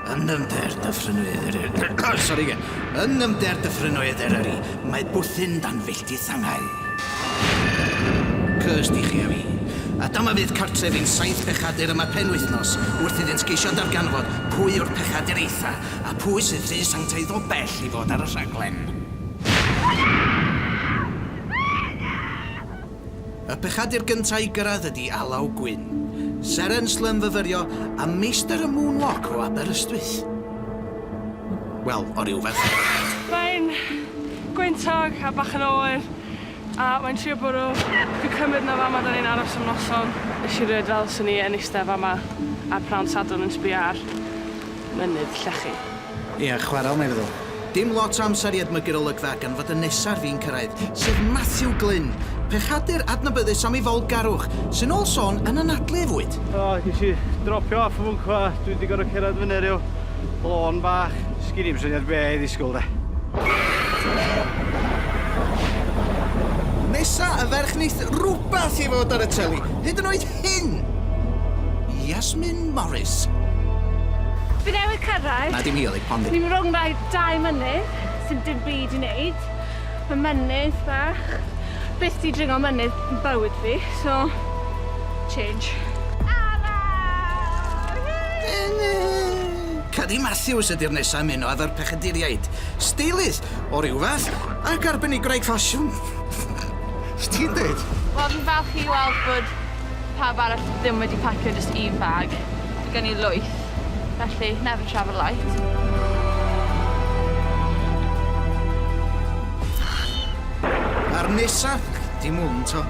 Yn nymder dyffrynnoedd Eryri... Sori, ge. Yn nymder dyffrynnoedd Eryri, mae bwthyn dan filltir sangau. Cys di chi a fi. A dyma fydd cartref i'n saith bechadur yma penwythnos, wrth iddynt geisio darganfod pwy yw'r pechadur eitha, a phwy sydd rhy sanctaidd o bell i fod ar y rhaglen. Y pechadur gynta i gyrraedd ydi Alaw Gwyn, seren slym fyfyrio a meistr y moonwalk o Aberystwyth. Wel, o ryw ferched. Mae'n gwyntog a bach yn oer a mae'n trio bwrw. Fi'n cymryd na fama da ni'n aros am noson. Nes i rioed fel swn i yn iste fama ar pnawn Sadwrn yn sbio ar mynydd llechi. Ia, chwaraeon mae'n feddwl. Dim lot o amser i edmygu'r olygfa gan fod y nesa ar fin cyrraedd, sef Matthew Glyn, pechadur adnabyddus am ei fawlgarwch, sy'n ôl sôn yn anadlu ei fwyd. O, ges i dropio off y fwncw a dwi wedi gorfod cerdded fyny ryw lôn bach. Sgin i'm syniad be' i ddisgwyl 'de. Nesa y ferch neith rwbath i fod ar y teli, hyd yn oed Pin! Yasmin Morris. Fi newydd cyrraedd. Na dim hi oedd e, Pondy. Ni'n rownd rhai dau mynydd sy'n dim byd i wneud. Mae mynydd bach. Byth di dringo mynydd yn bywyd fi, so change. Ara! Cadi Matthews ydy'r nesa' i ymuno efo'r pechaduriaid. Steilydd o ryw fath ac arbenigwraig ffasiwn. Be ti'n deud? Wel fi'n falch i weld bod pawb arall ddim wedi pacio jyst un bag. Ma' gen i lwyth, felly never travel light. A'r nesa? Dim hwn 'to.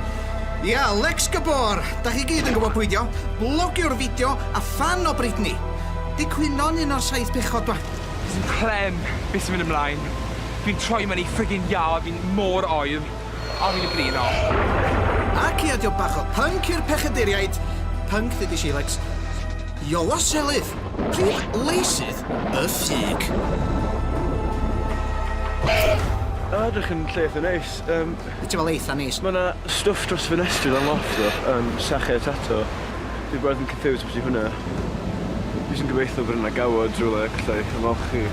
Ia, Lex Gabor! Dach chi gyd yn gwbod pwy 'di o. Blogiwr fideo a ffan o Britney. Di cwyno'n un o'r saith pechod 'ma. Sdim clem be' sy'n mynd ymlaen. Dwi'n troi mewn i friggin' iâ fi'n mor oer. Ar hyn o bryd, na. Ac ia, diolch bach o pync i'r pechaduriaid. Pync dydy Sheilacs. Iola Selydd! Prif leisydd y ffug. A, dych chi'n lle eitha neis. Yym... Be ti'n feddwl eitha neis? Mae yna stwff dros ffenestri lan loft ddo, yym, sachau a tato. Dwi bron yn confused beth ydy hwnna. Dwi jyst yn gobeithio bod yna gawod rywle, gallai ymolchi.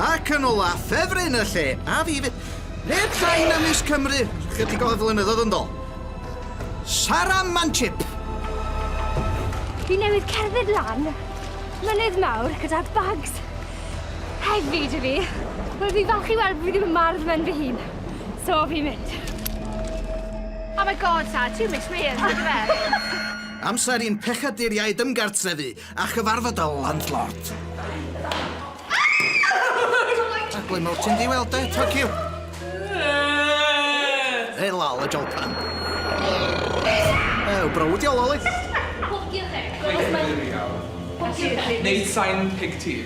Ac yn ola, ffefryn y lle, a fi 'fyd. Ble tai na Miss Cymru chydig o flynyddodd yndo? Sara Manchip! Fi newydd cerdded lan mynydd mawr gyda bags heavy dwi fi. Wel fi falch i weld bod fi ddim yn mardd mewn fy hun. So fi'n mynd. Oh my god, Sara, ti'n miss me, yndyfe? Amser i'n pechaduriaid ymgartrefu. A chyfarfod y landlord. A ble mor ti'n di weld e, Tokyo? Hey, lol, y jolpan. Ew, brawd i ololi. Pob diolch, Eric. Pob diolch. Neud sain pig tea.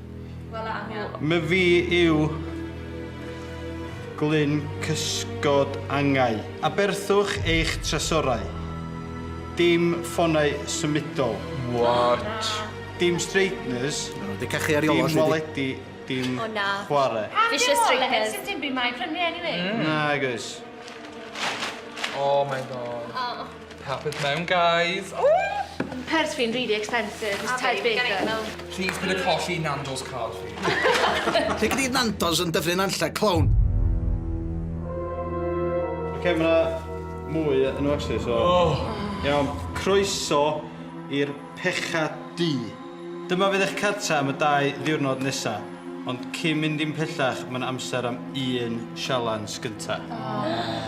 Wel am iawn. Mae fi yw glyn cysgod angau. Aberthwch eich tresorau. Dim ffonau symudol. What? Dim straighteners. Mae nhw 'di cachu ar Iolo, Dim waledi, dim chwarae. Pam dim Fishes Iolo hen sdim dim byd mae prynu anyway. Nag oes. Oh my God. Carpet mewn guys! Ww! Purse fi'n really expensive, it's Ted Baker. Plîs peidio colli i Nando's card fi. Lle gei di Nando's yn Dyffryn Nantlle, clown? Oce ma' 'na mwy yy yno actually so... Oh! Iawn. Croeso i'r Pecha Du. Dyma fydd eich cartre am y dau ddiwrnod nesa. Ond cyn mynd dim pellach ma' 'na amser am un sialens gynta. Aww. Aww.